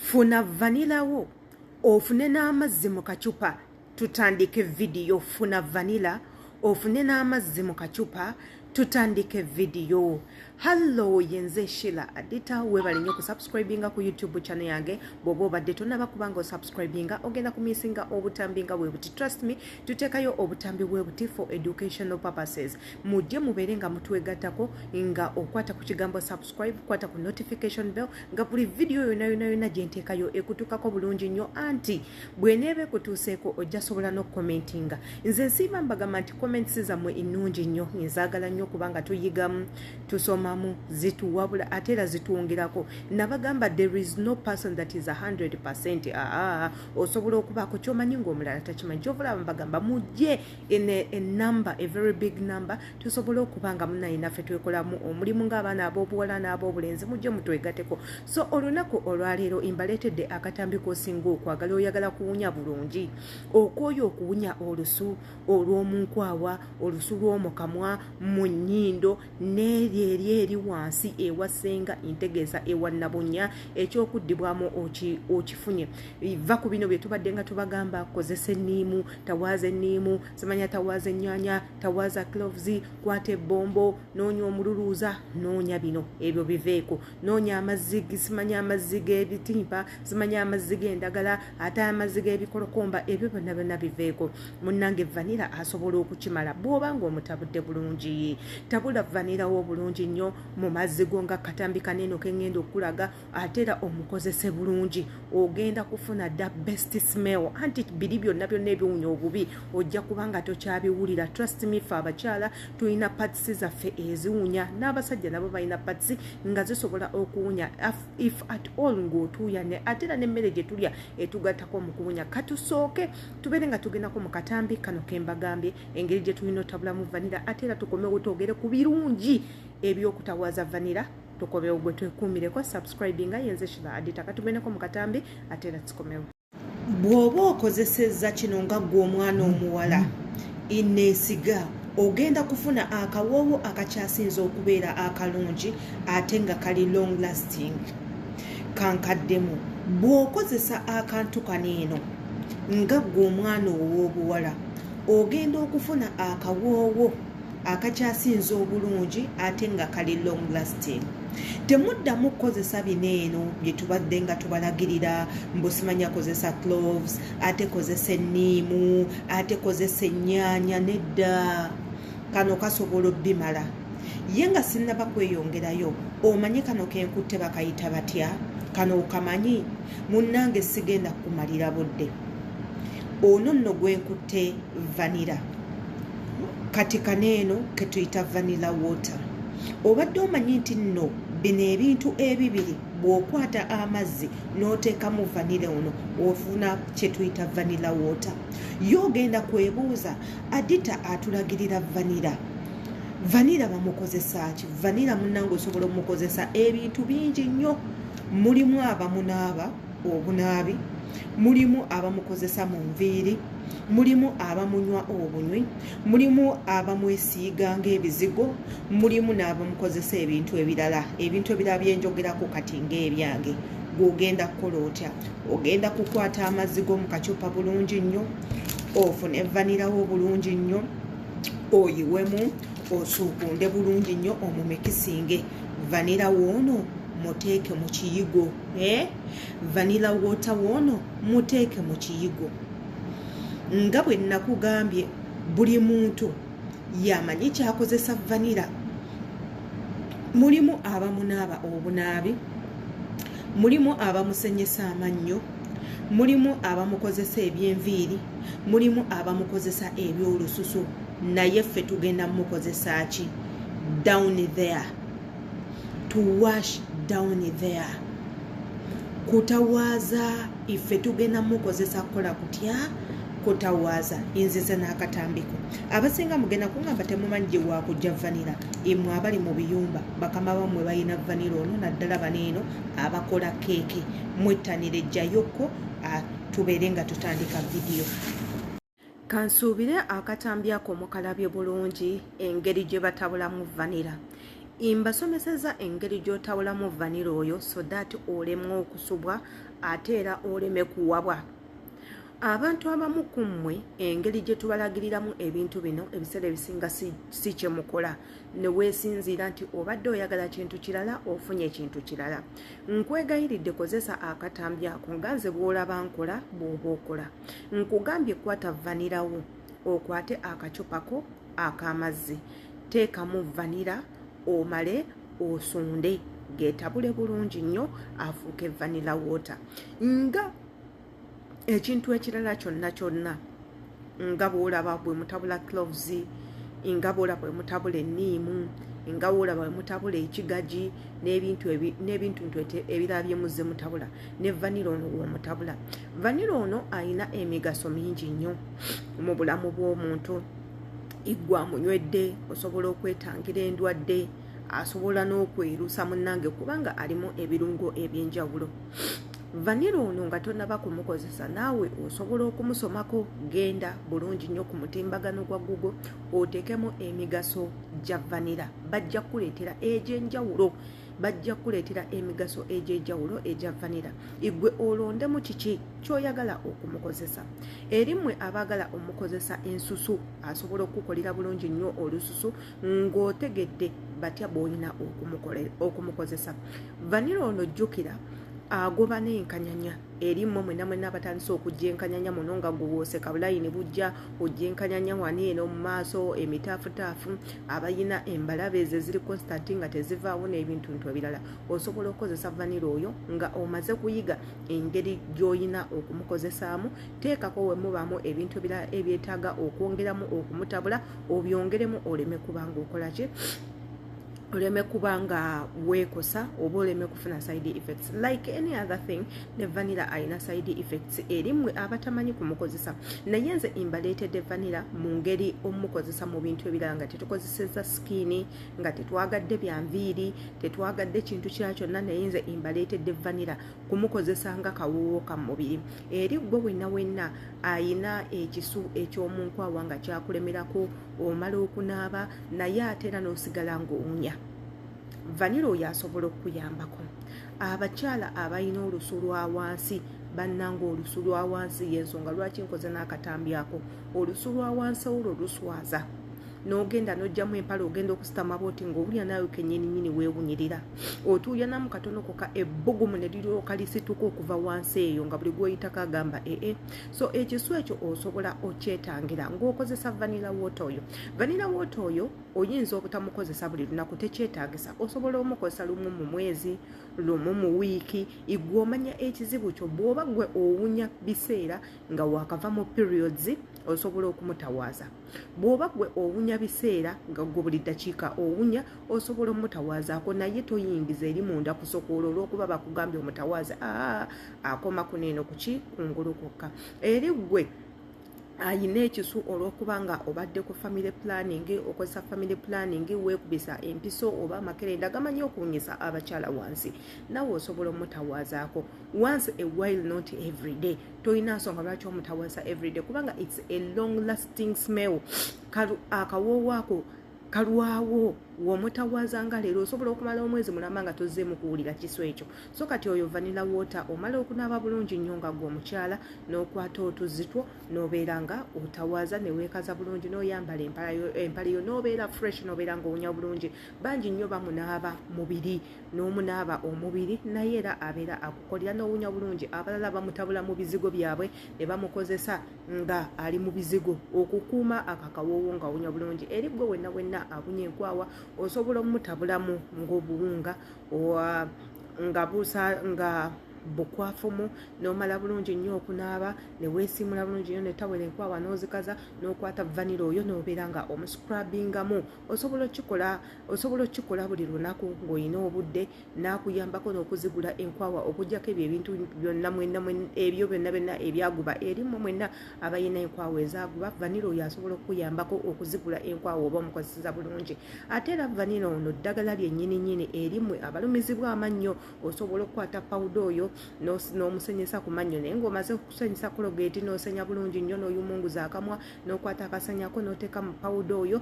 funa vanila wo ofune n'amazzi mu kacupa tutandike vidiyo funa vanila ofune n'amazzi mu kacupa tutandike vidiyo hallo yenze shila adita webale nyo kusubscribinga ku youtube chane yange bwoba obadde tonaba kubanga osubscribinga ogenda kumisinga obutambi nga webuti trust me tutekayo obutambi webuti for educational purposes mujje mubeere nga mutwegattako nga okwata ku kigambo subscribe kwata ku notification bell nga buli vidiyo yona yona yona gyenteekayo ekutuukako bulungi nnyo anti bweneeba ekutuuseeko ojja sobola n'okukomentinga nze nsiima mbagamba nti comments zammwe ennungi nnyo nzaagala nnyo kubanga tuyigamu tusomamu zituwabula ate era zitwongerako nabagamba there is no person that is 100 percent aa osobola okubaako kyomanyi ngaomulala takimanyi kyovaolaba mbagamba mujje enumber a very big number tusobole okuba nga munaye naffe twekolamu omulimu ng'abaana ab'obuwala n'ab'obulenzi mujje mutwegateko so olunaku olwaleero imbaleetedde akatambi k'osinga okwagala oyagala kuwunya bulungi okwoyo okuwunya olusu olw'omunkwawa olusu lw'omukamwa mu nnyindo n'eryo eri eri wansi ewa ssenga ntegeeza ewa nabunya ekyokuddibwamu okifunye va ku bino bye tubadde nga tubagamba kozesa enniimu tawaaza enniimu simanya tawaaza ennyanya tawaaza cloves kwata ebbombo noonya omululuuza noonya bino ebyo biveeko noonya amazzi simanya amazzi g'ebitimpa simanya amazzi g'endagala ate amazzi g'ebikolokomba ebyo byonna byonna biveeko munnange vanira asobola okukimala bw'oba ng'omutabudde bulungi tabula vanirawo obulungi nnyo mu mazzi go nga katambi kanene okengenda okukulaga ate era omukozese bulungi ogenda kufuna dda best smell anti biri byonna byonna ebiwunya obubi ojja kuba nga tokyabiwulira trust me fe abakyala tulina patisi zaffe eziwunya n'abasajja nabo balina patisi nga zisobola okuwunya if at all ng'otuuyane ate era n'emmere gye tulya etugattako mu kuwunya katusooke tubeere nga tugendako mu katambi kano ke mbagambye engeri gye tulina otabulamu vanira ate era tukomewo twogere ku birungi eby'okutawaza vanira tukomewo gwe twekuumireko subscribing nga yenze shiba adita katumeneko mu katambi ate era tukomewo bw'oba okozesezza kino nga ggwe omwana omuwala eneesiga ogenda kufuna akawoowo akakyasinza okubeera akalungi ate nga kali long lasting kankaddemu bw'okozesa akantu kano eno nga ggwe omwana ow'obuwala ogenda okufuna akawoowo akakyasinze obulungi ate nga kali long lasting temuddamu kukozesa bino eno bye tubadde nga tubalagirira mbusimanya kozesa cloves ate kozesa enniimu ate kozesa ennyaanya nedda kano kasobola obbimala ye nga sinnaba kweyongerayo omanye kano kenkutte bakayita batya kano okamanyi munnange sigenda kukumalira budde ono nno gwenkutte vanira kati kano eno ketuyita vanilla water obadde omanyi nti nno bino ebintu ebibiri bw'okwata amazzi n'oteekamu vanile ono ofuna kyetuyita vanila water ye ogenda kwebuuza adita atulagirira vanira vanira bamukozesa ki vanira munange osobola omukozesa ebintu bingi nnyo mulimu abamunaaba obunaabi mulimu abamukozesa mu nviiri mulimu abamunywa obunywi mulimu abamwesiiga ngaebizigo mulimu n'abamukozesa ebintu ebirala ebintu ebirala byenjogerako kati ngaebyange gwogenda kukola otya ogenda kukwata amazzi go mu kacupa bulungi nnyo ofune vanirawo bulungi nnyo oyiwemu osuukunde bulungi nnyo omumikisinge vanira woono muteeke mu kiyigo eh? vanilla water woono muteeke mu kiyigo nga bwe nakugambye buli muntu yamanyi kyakozesa vanira mulimu abamunaaba obunaabi mulimu abamusenyesa amannyo mulimu abamukozesa ebyenviiri mulimu abamukozesa ebyolususu naye ffe tugenda mukozesa ki down there to wash down there kutawaaza ife tugenda mukozesa kukola kutya kutawaaza nzize n'akatambiko abasinga mugenda kungamba temumanyi gye wakujja vanira imwe abali mu biyumba bakama bamwe balina vanira ono naddala baneeno abakola keeke mwettanire jjayokko tubeere nga tutandika vidiyo kansuubire akatambi ako mukalabye bulungi engeri gye batabulamu vanira mbasomeseza engeri gy'otabulamu vanira oyo so that olemwa okusubwa ate era oleme kuwabwa abantu abamu ku mmwe engeri gye tubalagiriramu ebintu bino ebiseera ebisinga si kye mukola ne weesinziira nti obadde oyagala kintu kirala ofunye ekintu kirala nkwegayiridde kozesa akatambi ako nga nze bw'olaba nkola bw'oba okola nkugambye kwata vanira wo okwate akacupa ko akamazzi teekamu vanira omale osunde getabule bulungi nnyo afuuke vanila water nga ekintu ekirala kyonna kyonna nga bwolaba bwe mutabula cloves nga bwolaba bwe mutabula enniimu nga bwolaba bwe mutabula ekigaji n'ebintu ntu ebirala bye muzze mutabula ne vanira ono womutabula vanira ono alina emigaso mingi nnyo mu bulamu bw'omuntu iggwa munywedde osobola okwetangira endwadde asobola n'okwerusa munnange kubanga alimu ebirungo eby'enjawulo vanira ono nga tonaba kumukozesa naawe osobola okumusomako genda bulungi nnyo ku mutimbagano gwa google oteekemu emigaso gya vanira bajja kukuleetera egy'enjawulo bajja kukuleetera emigaso egy'ejawulo egya vanira igwe olondemu kiki kyoyagala okumukozesa eri mmwe abaagala omukozesa ensusu asobola okukukolera bulungi nnyo olususu ng'otegedde batya bwolina okumukozesa vanira ono jjukira agoba n'enkanyanya eri mmwe mwena mwena abatandise okujja enkanyanya muno nga guwoose kabulayini bujja ojja enkanyanya wani eno mu maaso emitaafutaafu abalina embalabe ezo eziri constanti nga tezivaawo n'ebintu ntu ebirala osobola okukozesa vanira oyo nga omaze kuyiga engeri gy'olina okumukozesaamu teekako we mubaamu ebintu ebirala ebyetaaga okwongeramu okumutabula obyongeremu oleme kubanga okola ki oleme kuba nga weekosa oba oleme kufuna side effects like any other thing ne vanilla alina side effects erimwe abatamanyi kumukozesa naye nze imbaleetedde vanilla mu ngeri omukozesa mu bintu ebirala nga tetukozeseza sikini nga tetwagadde bya nviiri tetwagadde kintu kira kyonna naye nze imbaleetedde vanilla kumukozesa nga kawoowo ka mubiri eri gwe wenna wenna ayina ekisu eky'omunkwawa nga kyakulemerako omala okunaaba naye ate era n'osigala ng'owunya vanira oyo asobola okukuyambako abakyala abalina olusu lwa wansi bannanga olusu lwa wansi y'ensonga lwaki nkoze n'akatambi ako olusu lwa wansi olwo luswaza n'ogenda n'ojjamu empala ogenda okusitama bwoti ng'owulira naawe kenyininyini weewunyirira otuuyanamu katono koka ebbugumu ne liryoka lisituka okuva wansi eyo nga buli gwoyitako agamba ee so ekisu ekyo osobola okyetangira ngaokozesa vanila wota oyo vanila wota oyo oyinza obutamukozesa buli lunaku tekyetagisa osobola omukozesa lumu mu mwezi lumu mu wiiki igwe omanya ekizibu kyo bwoba gwe owunya biseera nga wakava mu periods osobola okumutawaaza bwoba gwe owunya biseera nga gwe buli ddakiika owunya osobola omutawaazaako naye toyingiza eri munda kusokoola olwokuba bakugambye omutawaaze aa ah, akoma kuno eno kuki kungulu kwokka eri ggwe ayina ekisu olwokuba nga obadde ku family planning okozesa family planning wekubisa empiso oba amakerenda gamanyi okuwunyisa abakyala wansi nawe osobola omutawazaako once a while not everyday tolina nsonga lwaki omutawaza everyday kubanga its a long lasting smell akawoowo ako kalwawo womutawaaza nga leero osobola okumala omwezi mulamba nga tozzeemu kuwulira kiso ekyo so kati oyo vanila water omala okunaaba bulungi nnyo nga gwe omukyala n'okwata otuzzi two n'obeera nga otawaaza neweekaza bulungi n'oyambala empale yo n'obeera fresh n'obeera nga owunya bulungi bangi nnyo bamunaaba mubiri n'omunaaba omubiri naye era abeera akukolera n'owunya bulungi abalala bamutabula mu bizigo byabwe ne bamukozesa nga ali mu bizigo okukuuma akakawoowo nga awunya bulungi eri gwe wenna wenna awunya enkwawa osobola omutabulamu ngaobuwunga nga busa nga bukwafumu nomala bulungi nnyo okunaaba neweesiimula bulungi nyo netawera enkwawa n'ozikaza n'okwata vanira oyo nobeera nga omuscrabingamu osobola okikola osobola okukikola buli lunaku ng'olina obudde n'akuyambako n'okuzigula enkwawa okujjako ebyo ebintu byonna mwenna ebyo byonna byonna ebyaguba erimwe mwenna abalina enkwawa ezaguba vanira oyo asobola okukuyambako okuzigula enkwawa oba omukozeseza bulungi ate era vanira ono ddagala lyennyini nyini erimwe abalumizibwa amannyo osobola okukwata pawuda oyo n'omusenyesa ku mannyo naye ng'omaze okusenyesa kologeti n'osenya bulungi nnyo n'oyumunguza akamwa n'okwata akasanyako n'oteeka mu pawuda oyo